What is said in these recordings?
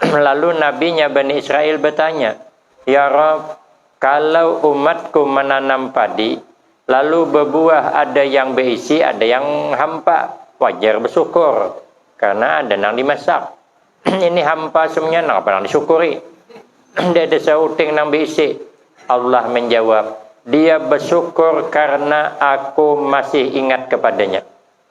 Lalu nabinya Bani Israel bertanya, Ya Rob, kalau umatku menanam padi, lalu berbuah ada yang berisi, ada yang hampa, wajar bersyukur, karena ada nang dimasak. Ini hampa semuanya, nang apa nang disyukuri? Tidak ada seuting nang berisi. Allah menjawab, Dia bersyukur karena aku masih ingat kepadanya.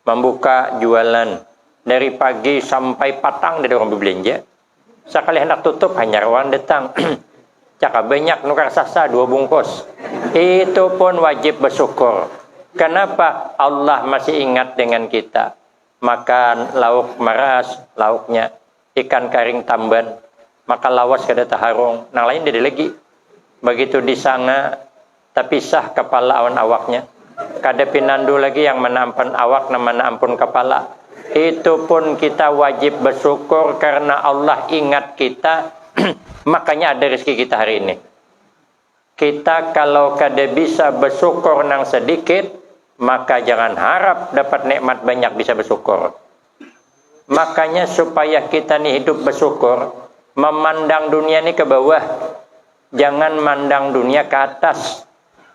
Mambuka jualan dari pagi sampai patang dari urang bebelanja, sakali handak tutup hanyar urang datang, cakap banyak nukar sasa dua bungkus, itu pun wajib bersyukur, kenapa Allah masih ingat dengan kita, makan lauk maras lauknya ikan karing tamban, maka lawas kada taharung, nang lain dada lagi, begitu di sanga Tapisah kapala awan awaknya. Kada pinandu lagi yang mana ampan awak nang mana ampun kapala. Itu pun kita wajib basyukur karna Allah ingat kita makanya ada rizki kita hari ini. Kita kalau kada bisa basyukur nang sadikit maka jangan harap dapat nikmat banyak bisa basyukur. Makanya supaya kita ni hidup basyukur mamandang dunia ni ke bawah. Jangan mandang dunia ka atas.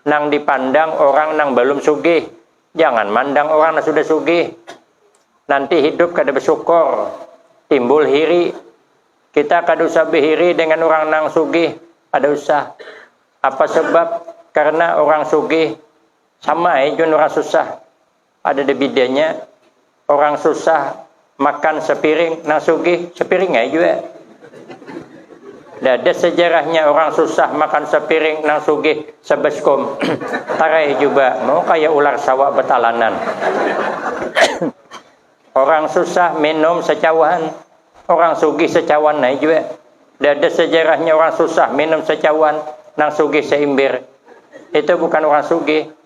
Nang dipandang orang nang balum sugih. Jangan mandang orang nang sudah sugih. Nanti hidup kada basukor. Timbul hiri. Kita kada usah bahiri dengan orang nang sugih. Kada usah. Apa sabab? Karna orang sugih sama ai jun orang susah. Kadada bidanya, urang susah makan sapiring, nang sugih sapiring ai jua. Dada sajarahnya urang susah makan sapiring, nang sugih sabaskum. Tarai juba, mau kaya ular sawa batalanan. Urang susah minum sacawahan, urang sugih sacawan ai jua. Dada sajarahnya urang susah minum sacawan, nang sugih saimbir. Itu bukan urang sugih,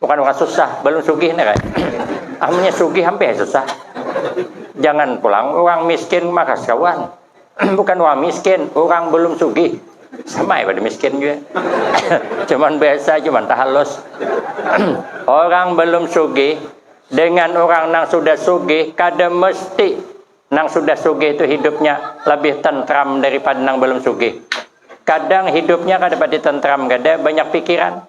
Bukan bukan susah, belum sugih nih kan. Amunnya sugih hampir susah. Jangan pulang orang miskin makas kawan. bukan orang miskin, orang belum sugih. Sama ya pada miskin juga. cuman biasa, cuman tahalus. orang belum sugih dengan orang nang sudah sugih kada mesti nang sudah sugih itu hidupnya lebih tentram daripada nang belum sugih. Kadang hidupnya kada pati tentram kada banyak pikiran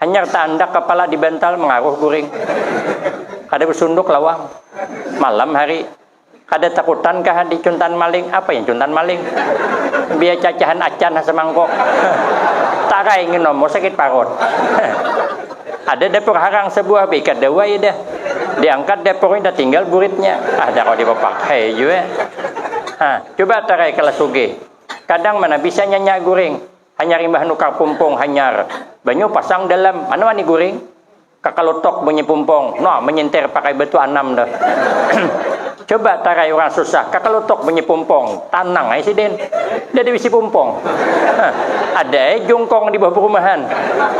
Hanyar taandak kapala di bantal mangaruh guring. Kada basunduk lawang. Malam hari. Kada takutan kah di cuntan maling? Apa yang cuntan maling? Biar cacahan acan ha samangkuk. Tarai nginom mu sakit parut. Ada dapur harang sabuah baikat dawai dah. Diangkat dapurnya tatinggal buritnya. Ada kawa dipapakai jua. Ha, cuba tarai kalas sugih. Kadang mana bisa nyanyak guring. Hanyar imbah nukar pumpong hanyar banyu pasang dalam mana wani guring kakalutok bunyi pumpong no menyintir pakai batu anam tu coba tarai urang susah kakalutok bunyi pumpong tanang ai sidin nda ada bisi pumpong ha ada ai jungkong di bawah perumahan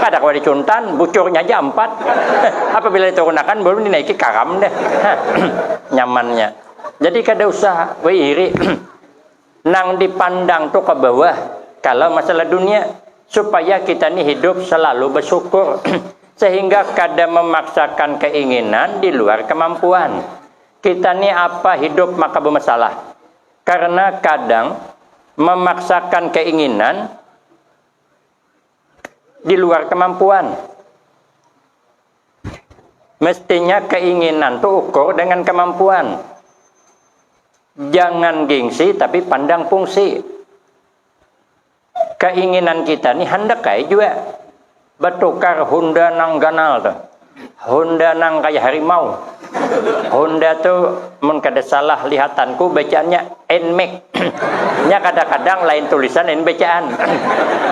kada kawa dicuntan bucurnya haja ampat ha apabila diturunakan balum dinaiki karam dah ha nyamannya jadi kada usah bairi. nang dipandang tu ke bawah kalau masalah dunia supaya kita ni hidup selalu bersyukur sehingga kada memaksakan keinginan di luar kemampuan kita ni apa hidup maka bemasalah karena kadang memaksakan keinginan di luar kemampuan. Mestinya keinginan tuh ukur dengan kemampuan. Jangan gengsi tapi pandang fungsi. Keinginan kita nih hendak kaya juga bertukar Honda nang ganal tuh. Honda nang kaya harimau. Honda tu mun kada salah lihatanku bacaannya Nmax. Nya kadang-kadang lain tulisan lain bacaan.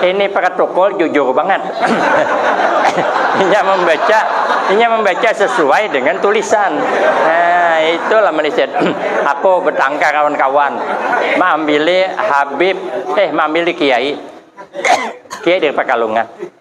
Ini protokol jujur bangat. inya membaca inya membaca sesuai dengan tulisan. Nah, itulah Malaysia. Aku bertangkar lawan kawan. Maambili Habib, eh maambili Kiai. Kiai dari Pekalongan.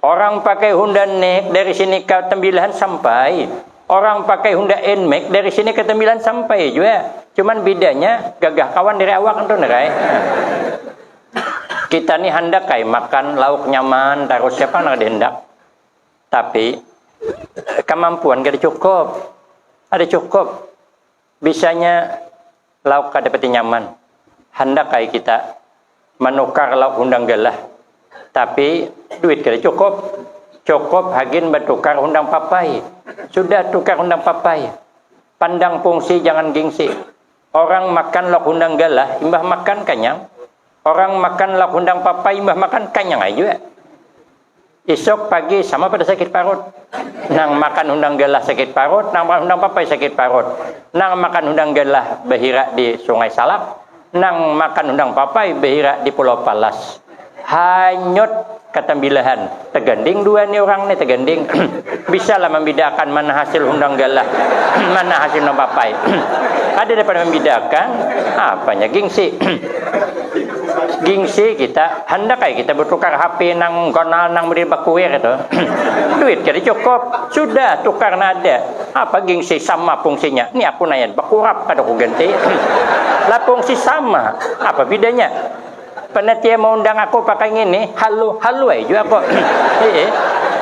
Orang pakai Honda Neg dari sini ka Tembilahan sampai. Orang pakai Honda Nmax dari sini ka Tembilahan sampai jua. Cuman bedanya gagah kawan dari awak antu nerai. Kita ni handak ai makan lauk nyaman tarus siapa nang kada handak. Tapi kamampuan kada cukup. Kada cukup. Bisanya lauk kada pati nyaman, handak ai kita manukar lauk hundang galah, tapi duit kada cukup, cukup hagin batukar hundang papai, sudah tukar hundang papai, pandang pungsi jangan gingsi, orang makan lauk hundang galah imbah makan kanyang. Orang makan lauk hundang papa imbah makan kanyang ai jua. Isuk pagi sama pada sakit parut. Nang makan hundang galah sakit parut, nang makan hundang papai sakit parut. Nang makan hundang galah bahira di Sungai Salak, nang makan hundang papai bahira di Pulau Palas. Hanyut. Katambilahan, taganding dua ni urang ni, taganding. Bisa lah mambidaakan mana hasil hundang galah, mana hasil hundang papai. Kada dapat mambidaakan, apanya gingsi. Gingsi kita, handak ai kita batukar HP nang ganal nang model bakuir tu. Duit kada cukup, sudah tukar nang ada. Apa gingsi, sama pungsinya. Ni aku naya, bakurap kada kuganti. Lah pungsi sama, apa bidanya. Pernah tia maundang aku pakai ngini, halu, halu ai jua aku. Iya.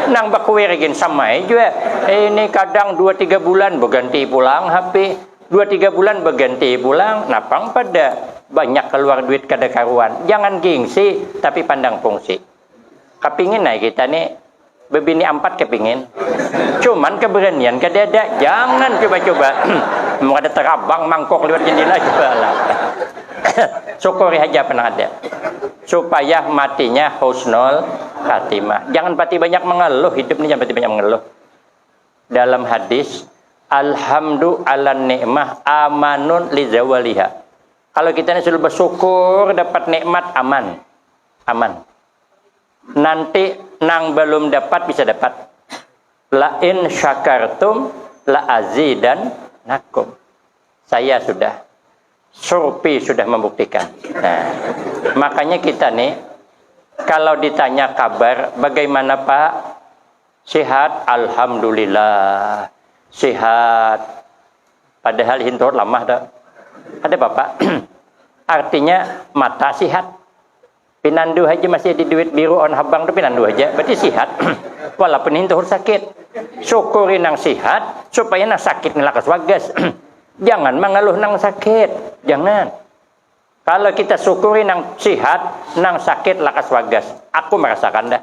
Nang bakuir gin sama ai jua. Ini kadang dua tiga bulan baganti pulang HP. Dua tiga bulan baganti pulang, napang pada banyak kaluar duit kada karuan. Jangan gingsi, tapi pandang fungsi. Kepingin ay kita ni bebini ampat kepingin. Cuman keberanian kada ada. Jangan coba-coba. Mau kada terabang mangkok lewat jendela juga lah. Syukuri haja apa nang ada. Supaya matinya husnul khatimah. Jangan pati banyak mengeluh. Hidup ni jangan pati banyak mengeluh. Dalam hadis, Alhamdu ala nikmah amanun li zawaliha. Kalau kita ni selalu bersyukur dapat nikmat aman. aman. Nanti nang belum dapat bisa dapat. La in syakartum la azidan nakum. Saya sudah surpi sudah membuktikan. Nah, makanya kita nih kalau ditanya kabar bagaimana Pak Sihat, alhamdulillah. Sihat. Padahal hintur lamah dah. Ada apa-apa. Artinya mata sihat. Pinandu haja masih ada duit biru on habang tu pinandu haja. Berarti sihat. Walaupun hintur sakit. Syukuri nang sihat supaya nang sakit ni lakas wagas. Jangan mengeluh nang sakit. Jangan. Kalau kita syukuri nang sihat, nang sakit lakas wagas. Aku merasakan dah.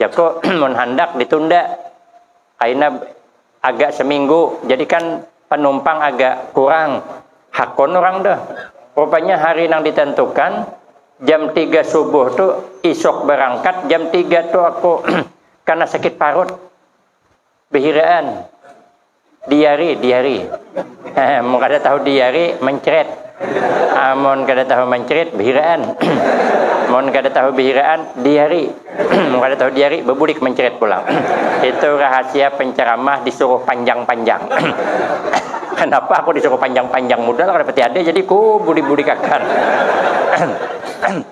Jaku mun handak ditunda kaina agak seminggu jadi kan panumpang agak kurang hakun urang tuh rupanya hari nang ditentukan jam tiga subuh tu isuk berangkat jam tiga tu aku kana sakit parut. Behiraan. Diari, diari. Mun kada tahu diari, mencret. Amun kada tahu mencret, behiraan. Mun kada tahu behiraan, diari. Mun kada tahu diari, bebulik mencret pulang. Itu rahasia penceramah disuruh panjang-panjang. Kenapa aku disuruh panjang-panjang? Mudah lah kada pati ada, jadi ku bulik-bulikakan.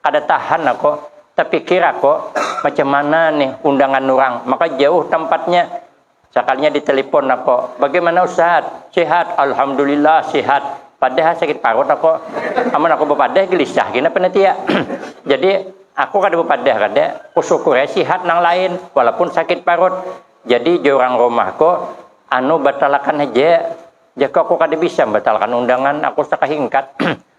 Kada tahan aku, tapikir aku, macam mana nih undangan urang, maka jauh tampatnya. Sakalinya ditelepon aku, bagaimana ustad, sihat, alhamdulillah sihat, padahal sakit parut aku, amun aku bapadah gelisah gin apa natia. Jadi aku kada bapadah kada, kusyukur ai sihat nang lain, walaupun sakit parut. Jadi jar urang rumahku, anu batalakan haja, jaka aku kada bisa batalakan undangan, aku sakahingkat.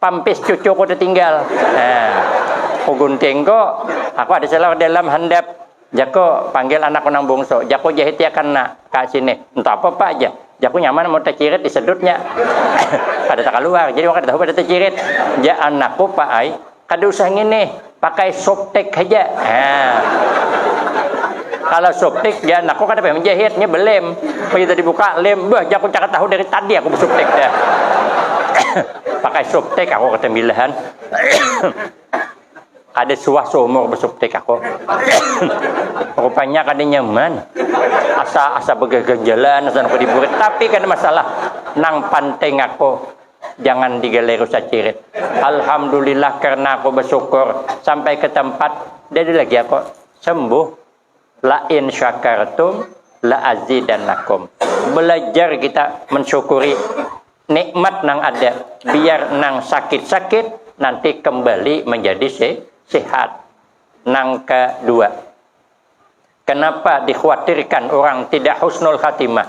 Pampis cucuku tetinggal. Nah, ku gunting ko, aku ada celor dalam handap. Jaku, panggil anakku nang bungsu. Jaku jahitiakan na, ka sini. Entah apa pak ja. Jaku nyaman mun tacirit disedutnya. kada takaluar, jadi wong kada tahu pada tacirit. Ja anakku pak ai, kada usah nginih. Pakai softtek haja. Nah. Kalau softtek dia aku kada pengen menjahit, nya belem. Pagi tadi buka lem, bah aku cakap tahu dari tadi aku softtek dia. Pakai softtek aku kata milahan. kada suah seumur besofttek aku. Rupanya kada nyaman. Asa asa begaganjalan asa aku diburit, tapi kada masalah. Nang penting aku jangan digeliru sacirit. Alhamdulillah karena aku bersyukur sampai ke tempat jadi lagi aku sembuh. La in syakartum la azidannakum. Belajar kita mensyukuri nikmat nang ada biar nang sakit-sakit nanti kembali menjadi se sehat. Nang kedua, kenapa dikhawatirkan orang tidak husnul khatimah?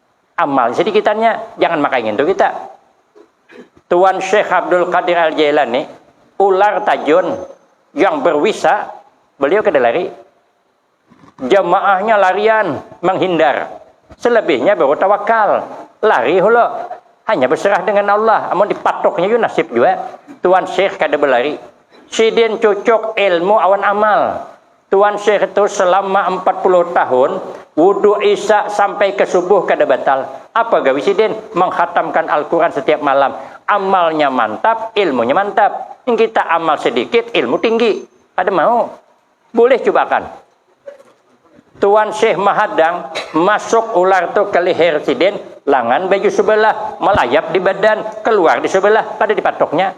amal jadi kita nya jangan makai ngintu kita Tuan Syekh Abdul Qadir Al Jailani ular tajun yang berwisa beliau kada lari jamaahnya larian menghindar selebihnya baru tawakal lari hulu hanya berserah dengan Allah amun dipatuknya yu nasib jua Tuan Syekh kada berlari sidin cucuk ilmu awan amal Tuan Syekh tu selama empat puluh tahun wuduk isya sampai ke subuh kada batal. Apa gawi sidin? Menghatamkan Al-Quran setiap malam. Amalnya mantap, ilmunya mantap. Kita amal sedikit, ilmu tinggi. Kada mau. Bulih cubakan. Tuan Syekh mahadang, masuk ular tu ke leher sidin, langan baju sebelah, melayap di badan, keluar di sebelah, kada dipatuknya.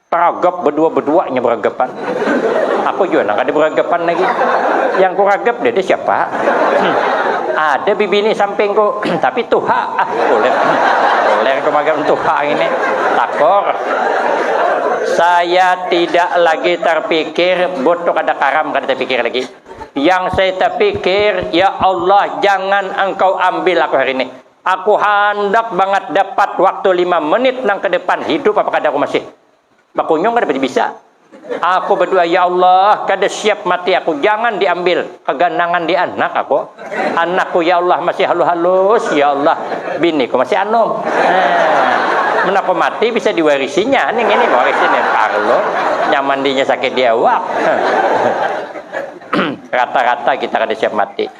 Ragap badua-badua inya baragapan. Aku jua nang kada baragapan lagi. Yang ku ragap dada siapa. Ada bibini sampingku tapi tuha. Ah kuler. Kuler ku magang tuha ini. Takor. Saya tidak lagi terpikir, bot tu kada karam kada terpikir lagi. Yang saya terpikir, ya Allah jangan engkau ambil aku hari ini. Aku handak bangat dapat waktu lima menit nang kedepan hidup apa kada aku masih bakunyung kada pati bisa. Aku badua ya Allah kada siap mati aku jangan diambil keganangan di anak aku. Anakku ya Allah masih halus halus ya Allah biniku masih anum. Nah, mun aku mati bisa diwarisinya ning ini warisin ya parlo nyaman dinya sakit di awak. Rata-rata kita kada siap mati.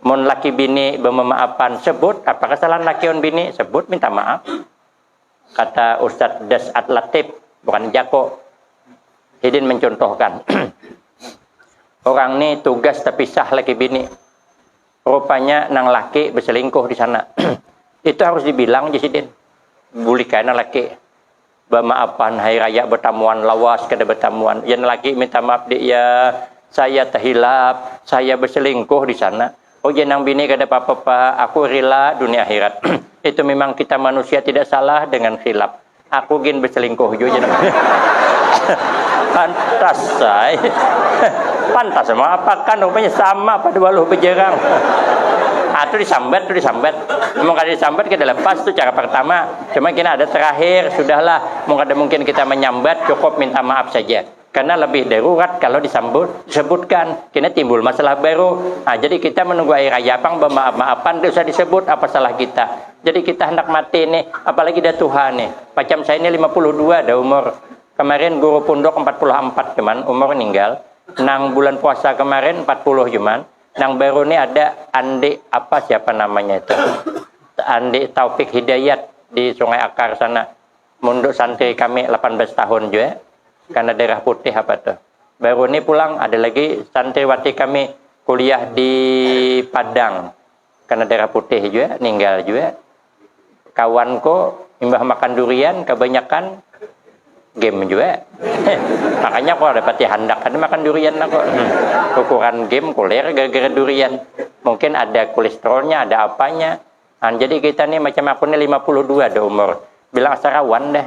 Mun laki bini bememaafan, sebut apa kesalahan laki on bini, sebut minta maaf. Kata Ustadz Des At Latif, bukan Jako. Hidin mencontohkan. Orang ni tugas terpisah laki bini. Rupanya nang laki berselingkuh di sana. Itu harus dibilang je sidin. Bulikai nang laki. Bamaafan hai raya batamuan lawas kada batamuan yang laki minta maaf dik ya saya tahilap saya baselingkuh disana oh ya nang bini kada papa pak aku rila dunia akhirat itu mimang kita manusia tidak salah dengan khilap aku gin baselingkuh jua jar pantas ai pantas maapakan rupanya sama pada waluh bajarang atu disambat tu disambat mun kada disambat kada lepas tu cara partama Cuma kena ada terakhir, sudahlah, mung ada mungkin kita menyambat, cukup minta maaf saja. Karena lebih darurat kalau disambut, disebutkan, kena timbul masalah baru. Nah, jadi kita menunggu air raya pang bemaaf-maapan, tidak usah disebut apa salah kita. Jadi kita hendak mati nih, apalagi dah tuha nih. Macam saya ini 52 dah umur. Kemarin guru punduk 44 cuman umur ninggal. Nang bulan puasa kemarin 40 cuman. Nang baru ni ada Andi apa siapa namanya itu. Andi Taufik Hidayat di Sungai Akar sana. Munduk santri kami lapan belas tahun jua. Karena darah putih apa tu. Baru ni pulang ada lagi santriwati kami kuliah di Padang. Karena darah putih jua, ninggal jua. kawanku imbah makan durian kebanyakan game juga makanya aku ada pati handak ada makan durian aku hmm. ukuran game kulir gara-gara durian mungkin ada kolesterolnya ada apanya nah, jadi kita nih macam aku nih 52 ada umur bilang sarawan dah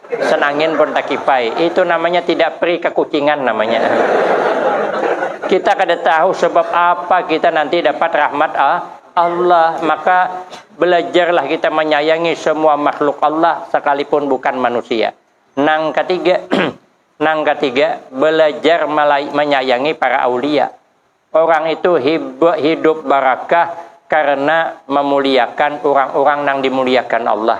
Sen angin pun takipai. Itu namanya tidak pri kakucingan namanya. Kita kada tahu sebab apa kita nanti dapat rahmat Allah. Maka belajarlah kita manyayangi semua makhluk Allah sakalipun bukan manusia. Nang katiga, nang katiga, belajar manyayangi para aulia. Urang itu hidup barakah karena mamuliakan urang-urang nang dimuliakan Allah.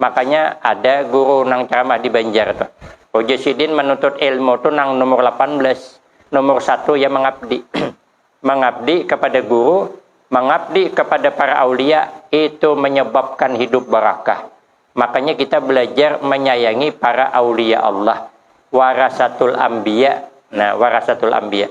Makanya ada guru nang ceramah di Banjar tuh. Ujar sidin menuntut ilmu tuh nang nomor 18. Nomor satu ya mengabdi. mengabdi kepada guru, mengabdi kepada para aulia itu menyebabkan hidup barakah. Makanya kita belajar menyayangi para aulia Allah. Warasatul ambiya. Nah, warasatul ambiya.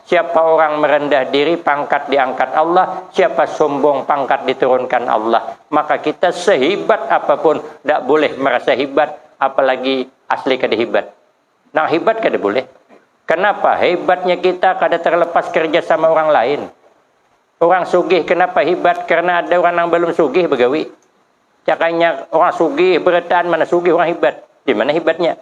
Siapa orang merendah diri, pangkat diangkat Allah, siapa sombong, pangkat diturunkan Allah. Maka kita sehibat apapun dak boleh merasa hibat, apalagi asli kada hibat. Nang hibat kada boleh. Kenapa? Hibatnya kita kada terlepas kerja sama orang lain. Orang sugih kenapa hibat? Karena ada orang nang balum sugih bagawi. Cakanya orang sugih berataan mana sugih orang hibat. Dimana hibatnya?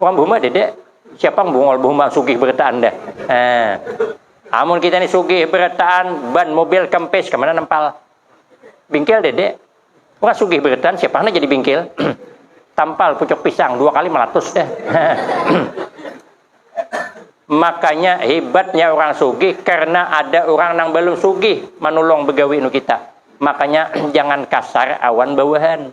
Orang behumah dede, siapa bungol behumah sugih berataan deh. Eh. Amun kita ni sugih berataan, ban mobil kempes kemana nempal? Bingkil dede. Orang sugih berataan siapa hanya jadi bingkil? Tampal pucuk pisang dua kali melatus deh. Makanya hebatnya orang sugih karena ada orang nang belum sugih manulung begawi nu kita. Makanya jangan kasar awan bawahan.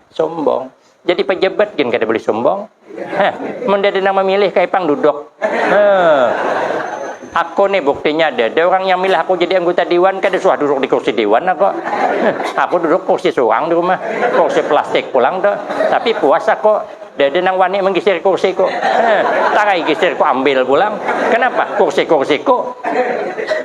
Sombong. Jadi pejabat gin kada boleh sombong. Heh, mun ada nang memilih kayak pang duduk. Heh. Aku nih buktinya ada. Ada orang yang milih aku jadi anggota dewan, kada suah duduk di kursi dewan aku. Heh. Aku duduk kursi suang di rumah, kursi plastik pulang tuh. Tapi puas aku. Ada nang wani menggisir kursiku. Heh. Tarai gisirku ambil pulang. Kenapa? Kursi-kursiku.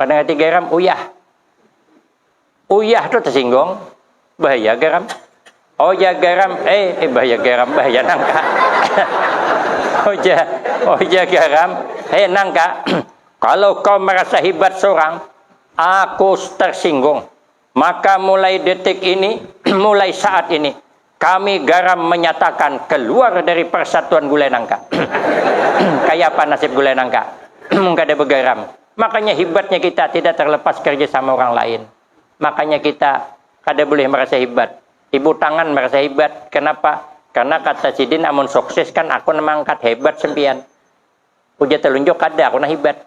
Kada ngerti garam, uyah. Uyah tu tersinggung, bahaya garam. Oh ya garam, eh, eh bahaya garam, bahaya nangka. oh ya, oh ya garam, eh nangka. Kalau kau merasa hebat seorang, aku tersinggung. Maka mulai detik ini, mulai saat ini, kami garam menyatakan keluar dari Persatuan Gulai Nangka. Kayapa nasib Gulai Nangka mun kada begaram? Makanya hibatnya kita tidak terlepas kerja sama orang lain. Makanya kita kada bulih merasa hibat. Ibu tangan merasa hibat, kenapa? Karena kata sidin amun sukses kan aku nang mangkat, hebat sempian. Ujar telunjuk kada aku nang hibat.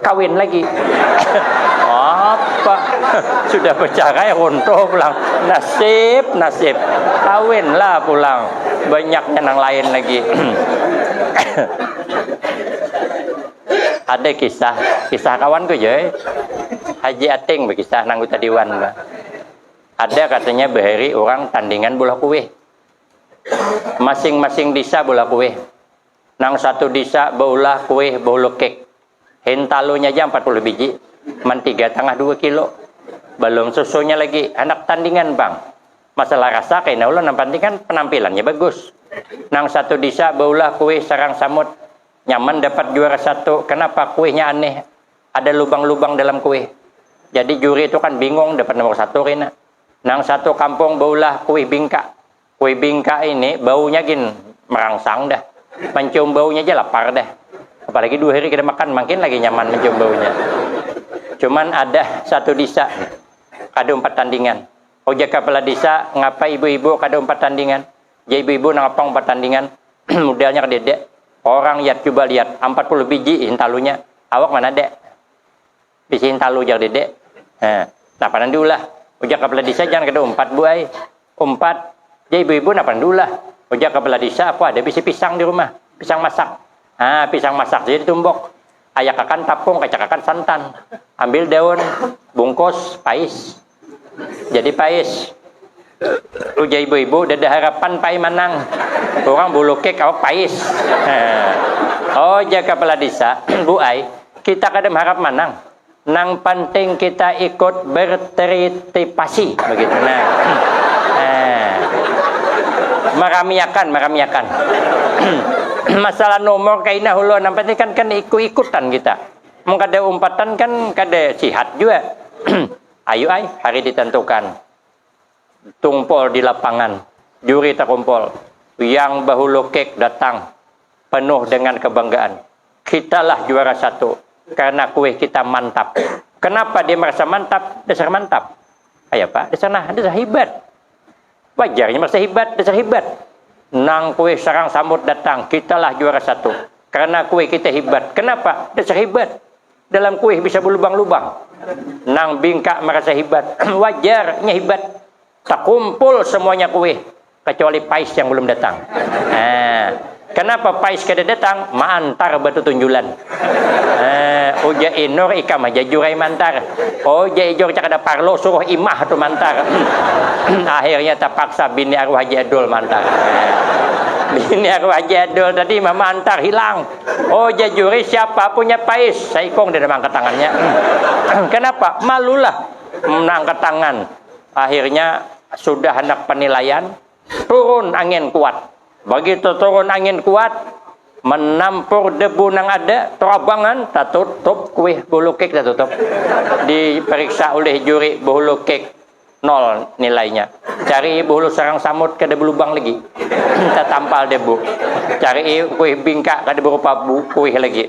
Kawin lagi. Apa? Sudah bercerai runtuh pulang. Nasib, nasib. Kawinlah pulang. Banyaknya nang lain lagi. Ada kisah, kisah kawanku je. Haji Ating berkisah nang anggota dewan. Ada katanya bahari orang tandingan bola kuih. Masing-masing desa bola kuih. Nang satu disa baulah kuih bahulu kek. Hintalunya ja ampat puluh biji. Mantiga tangah dua kilo. Balum susunya lagi. Handak tandingan pang. Masalah rasa kaina ulun nang panting kan penampilannya bagus. Nang satu disa baulah kuih sarang samut. Nyaman dapat juara satu. Kanapa kuihnya aneh. Ada lubang-lubang dalam kuih. Jadi juri tu kan bingung dapat nomor satu kaina. Nang satu kampung baulah kuih bingka. Kui bingka ini baunya gin merangsang dah. Mencium baunya aja lapar dah. Apalagi dua hari kada makan, makin lagi nyaman mencium baunya. Cuman ada satu disa kada umpat tandingan. Ujar kapala disa, ngapa ibu-ibu kada umpat tandingan? Jar ibu-ibu, nang pang umpat tandingan? Mudalnya kadada. Orang yat cuba lihat, ampat puluh biji hintalunya. Awak mana ada. Bisi hintalu ujar dede. Heh. Napa nang diulah? Ujar kapala disa, jangan kada umpat bu ai. Umpat. Jar ibu-ibu, napa nang diulah? Ujar kapala disa, aku ada bisi pisang di rumah. Pisang masak. Haa, pisang masak ja ditumbuk. Ayakakan tapung, kacakakan santan. Ambil daun, bungkus, pais. Jadi pais. Ujar ibu-ibu, dada harapan pai manang. Orang bulukik awak pais. Oh, jar kepala desa, Bu ai, kita kada mengharap manang. Nang penting kita ikut bertritipasi. Begitu. Nah. nah. Meramiakan, meramiakan. Masalah nomor kaina hulu, nang penting kan, kan ikut-ikutan kita. Mun kada umpatan kan kada sihat jua. Ayu ai, hari ditentukan. Tungpol di lapangan. Juri takumpol. Yang bahulu kek datang. Penuh dengan kebanggaan. Kitalah juara satu. Karena kue kita mantap. Kenapa dia merasa mantap? Dasar mantap. Ayapa? Dasar nah, dasar hibat. Wajarnya merasa hibat, dasar hibat. Nang kue sarang samut datang, kitalah juara satu. Karena kue kita hibat. Kenapa? Dasar hibat. Dalam kue bisa belubang-lubang. Nang bingkak merasa hibat. Wajarnya hibat. Terkumpul semuanya kue. Kecuali Pais yang belum datang. Nah, Kanapa Pais kada datang? Maantar batutunjulan. Eh, ujar Inur, ikam haja Jur ai maantar. Oh, ujar Ijur, cak kada parlu, suruh imah tu maantar. Akhirnya tapaksa bini arwah Haji Adul maantar. Bini arwah Haji Adul tadi mah maantar hilang. Oh, ujar Juri, siapa punya Pais? Saikung deh nang maangkat tangannya. Kanapa? Malulah nang angkat tangan. Akhirnya sudah handak panilaian, Turun angin kuat. Begitu turun angin kuat, menampur debu nang ada, terabangan, tatutup kuih bulu kek tatutup. Diperiksa oleh juri bulu kek nol nilainya. Cari bulu sarang samut kada belubang lagi. Tatampal debu. Cari kuih bingka kada berupa kuih lagi.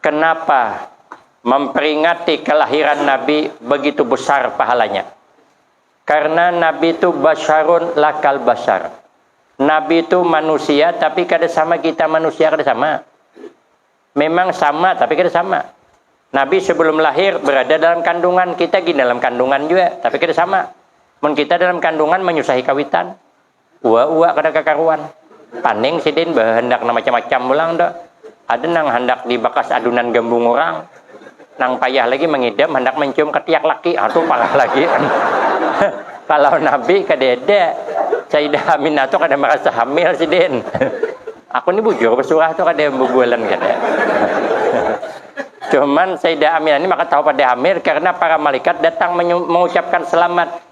Kenapa memperingati kelahiran Nabi begitu besar pahalanya? Karena Nabi itu basarun lakal basar. Nabi itu manusia tapi kada sama kita manusia kada sama. Memang sama tapi kada sama. Nabi sebelum lahir berada dalam kandungan, kita gini dalam kandungan juga tapi kada sama. Mun kita dalam kandungan menyusahi kawitan, uwa-uwa kada kakaruan paning sidin bahandak nang macam-macam pulang tu ada nang handak di bakas adunan gambung urang nang payah lagi mangidam handak mancium katiak laki ha tu parah lagi kalau nabi kadada Sayyidah Aminah tu kada marasa hamil sidin aku ni bujur besurah tu kada bubualan kada cuman Sayyidah Aminah ni maka tahu pada hamil karena para malaikat datang mengucapkan selamat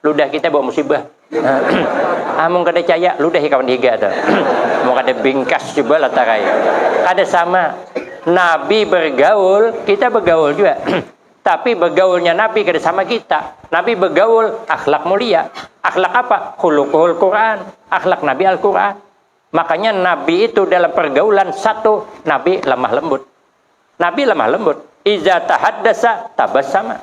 ludah kita bawa musibah amung ah, kada caya ludah kawan higa tu mau kada bingkas coba latarai kada sama nabi bergaul kita bergaul juga tapi bergaulnya nabi kada sama kita nabi bergaul akhlak mulia akhlak apa khuluqul Quran akhlak nabi Al-Quran makanya nabi itu dalam pergaulan satu nabi lemah lembut nabi lemah lembut iza tahaddasa tabassama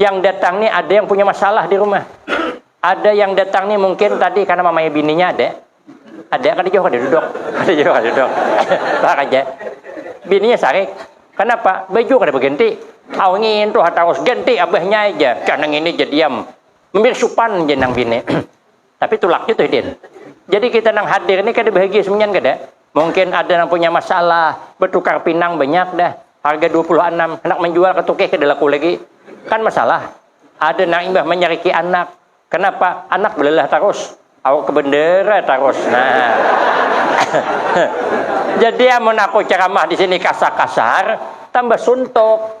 Yang datang nih ada yang punya masalah di rumah. Ada yang datang nih mungkin tadi karena mamanya bininya ada. Ada kan jauh ada duduk. Ada jauh ada duduk. Lah aja. Bininya sarik. Kenapa? Baju kada berganti. Awangin tuh harus ganti abahnya aja. Karena ini jadiam. Membir supan jenang bini. Tapi tulaknya tuh hidin. Jadi kita nang hadir ini kada bahagia semenyan kada. Mungkin ada yang punya masalah, bertukar pinang banyak dah. Harga 26, hendak menjual ketukih kada laku lagi. Kan masalah. Ada nang imbah menyeriki anak. Kenapa? Anak belalah terus. Awak kebendera terus. Nah. Jadi amun aku ceramah di sini kasar-kasar, tambah suntuk.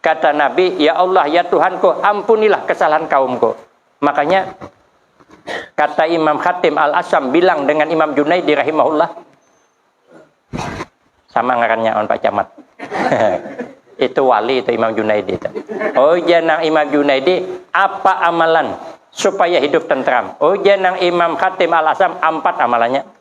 Kata Nabi, Ya Allah, ya Tuhanku, ampunilah kesalahan kaumku. Makanya kata Imam Khatim Al-Asam bilang dengan Imam Junaidi rahimahullah. Sama ngarannya on Pak Camat. itu wali itu Imam Junaidi itu. Oh janang Imam Junaidi apa amalan supaya hidup tentram? Oh janang Imam Khatim Al-Asam empat amalannya.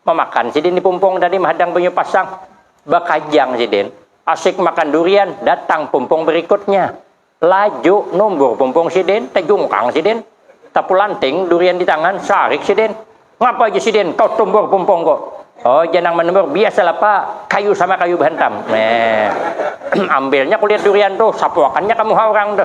Mamakan sidin di pumpung tadi mahadang banyu pasang. Bakajang sidin. Asik makan durian, datang pumpung berikutnya. Laju numbur pumpung sidin, tajungkang sidin. Tapulanting durian di tangan, sarik sidin. Ngapa ja sidin, kau tumbur pumpung ku. Oh ja nang manumbur, biasalah pa, kayu sama kayu bahantam. Ambilnya kulit durian tu, sapuakannya ka muha urang tu.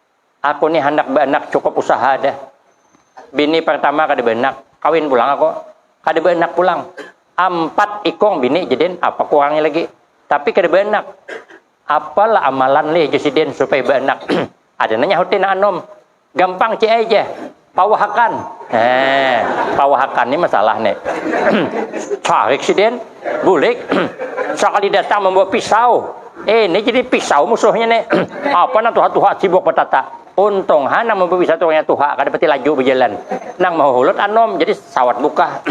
Aku ni handak baanak cukup usaha dah. Bini partama kada baanak, kawin pulang aku. Kada baanak pulang. Ampat ikung bini jadin, apa kurangnya lagi. Tapi kada baanak. Apa lah amalan lih jar sidin supaya baanak. Ada nang nyahuti nang anum. Gampang ci ai jar. Pawahakan. Eh, pawahakan ni masalah ni. Tarik sidin, bulik. Sakali datang membawa pisau. Eh, ini jadi pisau musuhnya ni. Apa nang tuha-tuha sibuk bertata. Untung ha nang membawa pisau tukangnya tuha, kada pati laju berjalan. Nang mahulut anum, jadi sawat bukah.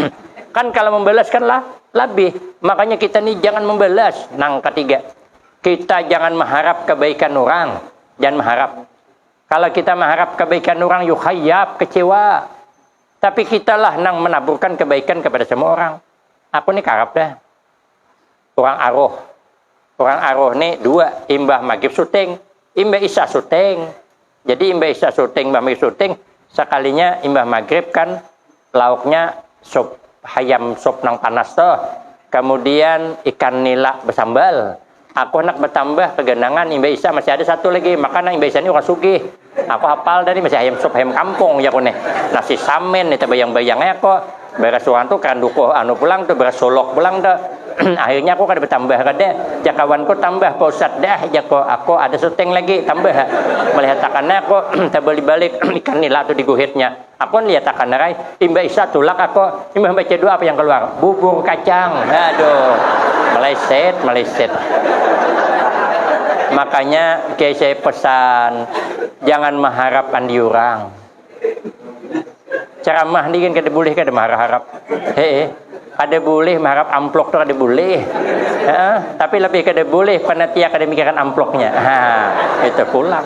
Kan kalau membalas kan lah, labih. Makanya kita ni jangan membalas. Nang ketiga, kita jangan maharap kebaikan urang. Jangan maharap. Kalau kita mengharap kebaikan orang, yuk hayap, kecewa. Tapi kita lah nang menaburkan kebaikan kepada semua orang. Aku ni karap dah. Orang aroh. Orang aroh ni dua. Imbah maghrib syuting. Imbah isya syuting. Jadi imbah isya syuting, imbah maghrib syuting. Sekalinya imbah maghrib kan lauknya sup hayam sup nang panas tuh kemudian ikan nila bersambal aku handak bertambah keganangan imbah isya masih ada satu lagi maka nang imbah isya ni urang sugih aku hapal dah ni masih hayam sup hayam kampung jaku nih nasi samin nih tebayang-bayang ai aku beres urang tuh kada dukuh anu pulang tuh beres suluk pulang tuh akhirnya aku kada bertambah kada jar kawanku tambah pa ustad dah jaku aku ada suting lagi tambah ha melihat akan aku tabalik-balik ikan nila tuh diguhitnya. Aku lihat akan rai, imbah isya tulak aku, imbah baca doa apa yang keluar? Bubur kacang. Aduh, meleset, meleset. Makanya kiai saya pesan, jangan maharap andi urang. Ceramah ni kan kada boleh kada maharap-harap. Hee, kada boleh maharap amplok tu kada boleh. Hee, tapi lebih kada boleh panitia kada mikirkan amploknya. Haa, itu pulang.